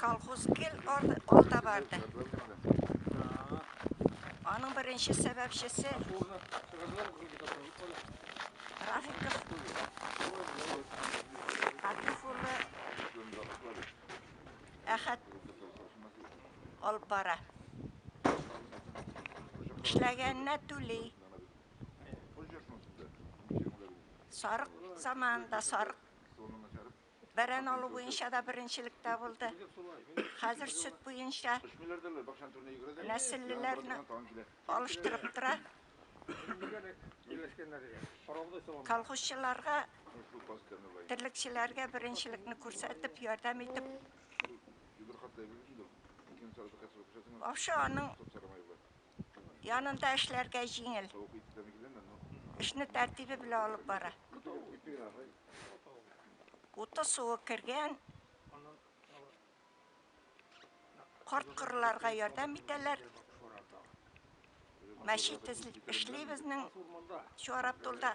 Колхоз гел алда барды. Аның беренче сәбәпчесе Рафиков Рафиков улы Әхәт алып бара. Эшләгәненә түли. Сарык заманында сарык Бәрән алу буенча да беренчелектә булды. Хәзер сөт буенча нәселлеләрне алыштырып тора. Колхозчыларга, терлекчеләргә беренчелекне күрсәтеп, ярдәм итеп. Башы аның Янында эшләргә җиңел. Эшне тәртибе белән алып бара. Уты суы кергән. Карт кырларга ярдәм итәләр. Мәчет эшли безнең Чуарабдулда.